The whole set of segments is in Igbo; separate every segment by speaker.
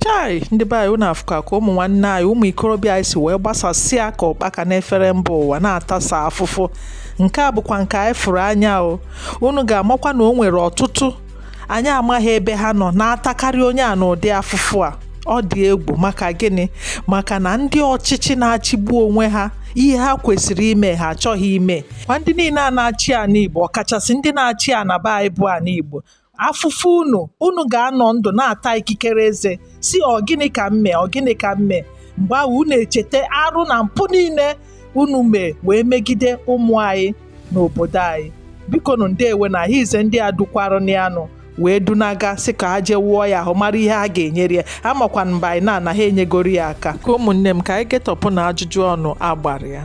Speaker 1: chai ndị be anyị unu afụka ka ụmụ nwanne anyị ụmụ ikorobịa anyị si wee gbasasịa ka ụkpaka n'efere mba ụwa na-atasa afụfụ nke a bụkwa nke anyị fụrụ anya o unu ga-amakwa na o nwere ọtụtụ anyị amaghị ebe ha nọ na-atakarị onye a n'ụdị afụfụ a ọ dị egwu maka gịnị maka na ndị ọchịchị na-achịgbu onwe ha ihe ha kwesịrị ime ha achọghị ime ma ndị niile a na-achị ana igbo ọkachasị ndị na-achị ana be anyị bụ ana igbo afụfụ unu unu ga-anọ ndụ na-ata ikikere eze sị ọ gịnị ka m me ọ gịnị ka m me mgbe ahụ unu echeta arụ na mpụ niile unu mee wee megide ụmụ anyị n'obodo anyị biko nụ ndewe na ahịa ize ndị a dukwarụ n'anụ wee dunaga sị ka ha jee wụọ ya ahụ mara ihe ha ga-enyere ya amakwa m by now na ha enyegoro ya aka ka ụmụnne m ka anyị getọpụ na ajụjụ ọnụ a gbara ya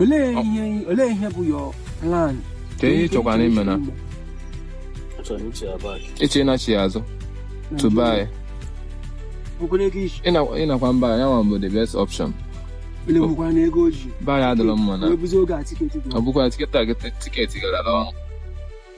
Speaker 2: olee ihe olee ihe bụ your plan ka ihe
Speaker 3: chọkwara ime na-eche ịnachi azụ to buy ịnakwa mba ya nwa bụ the best option ebe a adịrọ mma na ọ bụkwa tiketi a tiketi gara ọnụ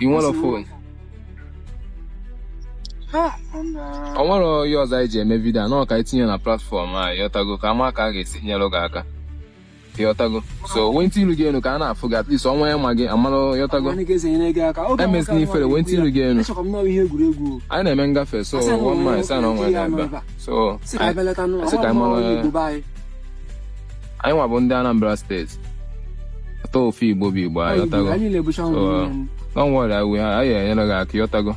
Speaker 3: ị nwere phone? ọ nwere ihe ọzọ anyị ji eme vidio a na ọ ka e tinye na platfọm anyị ịọtago ka a ma ka a ga-esi nyere gị aka ịọtago so wenite ilu gị enu ka a na-afụ gị at least onye ma gị amara ịọtago emezina ifere wenite ilu gị enu anyị na-eme ngafe so one man sa na ọnwa ya ebe so asị ka anyị mara anyị nwa bụ ndị Anambra steeti after all Igbo bụ Igbo ịọtago anyị na-abụcha ụmụ So, nne m. don't worry anyị ha anyị enyere gị aka ịọtago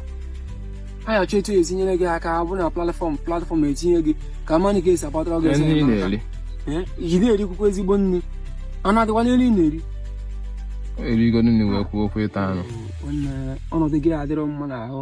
Speaker 3: anyị
Speaker 2: achọ etu esi nyere gị aka ọ bụ na platfọm platfọm etinye gị ka mmadụ ga-esi agbatara gị ihe ọsọ ndị ị enyemaka. na-eri Eh, ị na-erikwukwa ezigbo nri anụ adịkwa n'ihe ị na-eri
Speaker 3: erigo nri wee kwuo okwu ịta anụ Nwanne, ọnọdụ
Speaker 2: gị adịrọ mma n'ahụ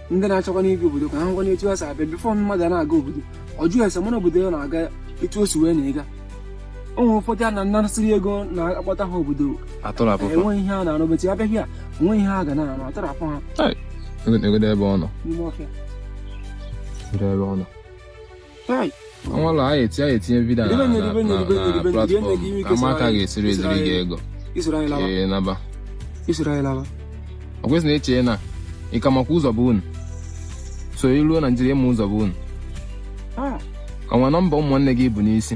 Speaker 3: ndị
Speaker 2: na-achọkwa ịbịa obodo ka ha makwanụ etu ha si abịa bifọ mmadụ na-aga obodo ọ jụọ ese mara obodo ọ na-aga etu o si wee na-aga o nwere ụfọdụ a na-anasịrị ego na-akpọta ha obodo atọrapụ fa enweghị ihe a na-arụ beti abịaghị a onweghị ihe ha ga na-arụ atọrapụ ha negodo ebe ọ
Speaker 3: nọ n'ime ọfịa
Speaker 2: negodo ebe ọ nọ
Speaker 3: ọnwalụ a etinye a etinye vidio na platfọm a ma ka a ga-esiri eziri gị ego
Speaker 2: ị naba ọ kwesịrị eche m
Speaker 3: na ị ka makwa ụzọ be unu so ị ruo naijiria ị ma ụzọ be unu o nwere nọmba ụmụnne gị ị bu n'isi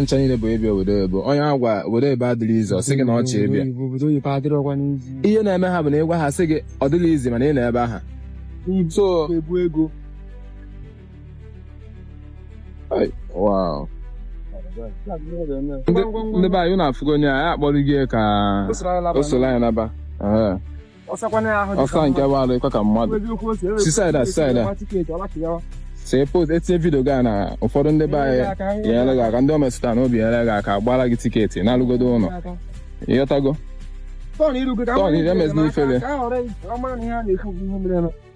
Speaker 3: ncha niile bụ ịbịa obodo oyibo onye a gwa obodo oyibo adịrọ easy ọ sị gị na ọ chọ ịbịa obodo oyibo adịrọkwanụ easy ihe na-eme ha bụ na ị gwa ha sị gị ọ dịrọ easy mana ị nọ ebe ahụ so ebu ego wow ndị be anyị unu afụgo onye a a kpọrọ gị ka o soro anyị naba Ehe. ọsa nke bụ alụ ịkọ ka mmadụ si saịda saịda see post etinye vidio gị a na ụfọdụ ndị be anyị nyere gị aka ndị o metụtara n'obi nyere gị aka gbara gị tiketi nalugodo ụlọ ịghọtago Tọn iru gị ka Tọn, ihe meziri ifele. ka a ghọrọ ị- ọ mara na ihe a na-ekwu bụ ihe mere eme.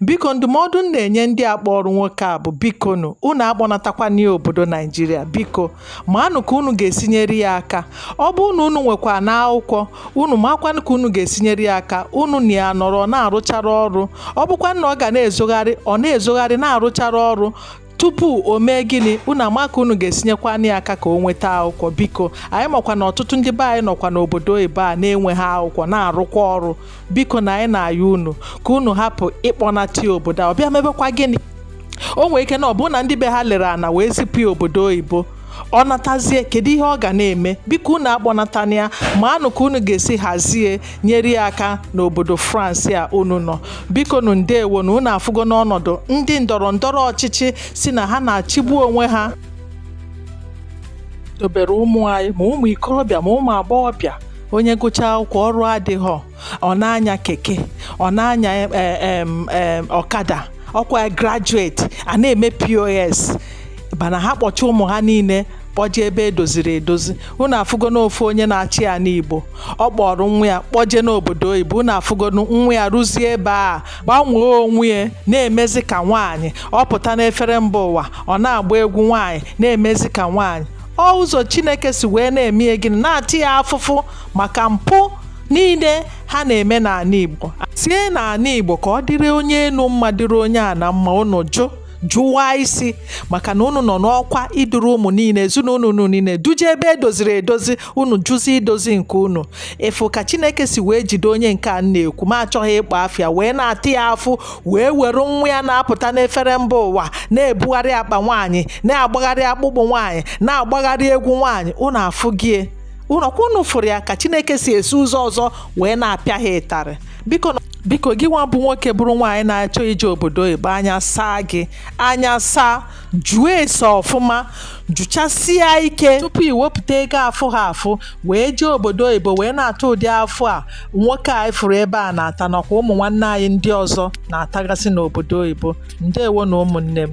Speaker 1: biko ndụmọdụ m na-enye ndị a kpọrọ nwoke a bụ bikonu unu akpọnatakwana ya obodo naijiria biko manụ ka unu ga-esinyere ya aka ọ bụrụ na unu nwekwanụ akwụkwọ unu makwanụ ka unu ga-esinyere ya aka unu na ya nọrọ na-arụchara ọrụ ọ bụkwa na ọ ga na-ezogharị ọ na-ezogharị na-arụchara ọrụ tupu o mee gịnị unu ama ka unu ga-esinyekwanụ ya aka ka o nweta akwụkwọ biko anyị makwa na ọtụtụ ndị be anyị nọkwa n'obodo oyibo a na-enweghị akwụkwọ na-arụkwa ọrụ biko na anyị na-ayọ unu ka unu hapụ ịkpọnata obodo a ọ bịa mebekwa gịnị o nwere ike na ọ bụrụ na ndị be ha lere ana wee zipụ ya obodo oyibo ọ natazie kedu ihe ọ ga na-eme biko unu akpọnatana ya maanụ ka unu ga-esi hazie nyere ya aka n'obodo France a unu nọ bikonu ndewonụ unu afụgonụ ọnọdụ ndị ndọrọ ndọrọ ọchịchị sị na ha na-achịgbu onwe ha dobere ụmụ anyị ma ụmụ ikorobịa ma ụmụ agbọghọbịa onye gụchaa akwụkwọ ọrụ adịghọ ọ na-anya keke ọ na-anya eh, eh, eh, ọkada ọ kwa graduate a na-eme POS mana ha kpọcha ụmụ ha niile kpọje ebe edoziri edozi unu afụgonụ ofu onye na-achị ana Igbo ọ kpọrọ nwa ya kpọje n'obodo oyibo unu afụgo nwa ya ruzie ebe a gbanwee onwe ya na-emezi ka nwaanyị ọ pụta n'efere mba ụwa ọ na-agba egwu nwaanyị na-emezi ka nwaanyị ọ ụzọ chineke si wee na-eme gịnị na-ata ya afụfụ maka mpụ niile ha na-eme n'ala Igbo dozienụ ala Igbo ka ọ dịrị onye enu mma dịrị onye ana mma unu jụ jụwa isi maka na unu nọ n'ọkwa iduru ụmụ niile ezinụlọ unu niile duje ebe edoziri edozi unu jụzi idozi nke unu ị fụ ka chineke si wee jide onye nke a na-ekwu ma achọghị ịkpọ afa ya wee na-ata ya afụfụ wee were nwa ya na-apụta n'efere mba ụwa na-ebugharị akpa nwaanyị na-agbagharị akpụkpụ nwaanyị na-agbagharị egwu nwaanyị unu afụgo ya nụ ọ kwa unu fụrụ ya ka chineke si esi ụzọ ọzọ wee na-apịa ha ịtarị biko biko gị nwa bụ nwoke bụrụ nwaanyị na-achọ ije obodo oyibo anya saa gị anya saa jụọ ese ọfụma jụchasịa ike tupu ị wepụta ego afụ ha afụ wee jee obodo oyibo wee na-ata ụdị afụfụ a nwoke anyị fụrụ ebe a na-ata nakwa ụmụ nwanne anyị ndị ọzọ na-atagasị n'obodo oyibo ndewonụ ụmụnne m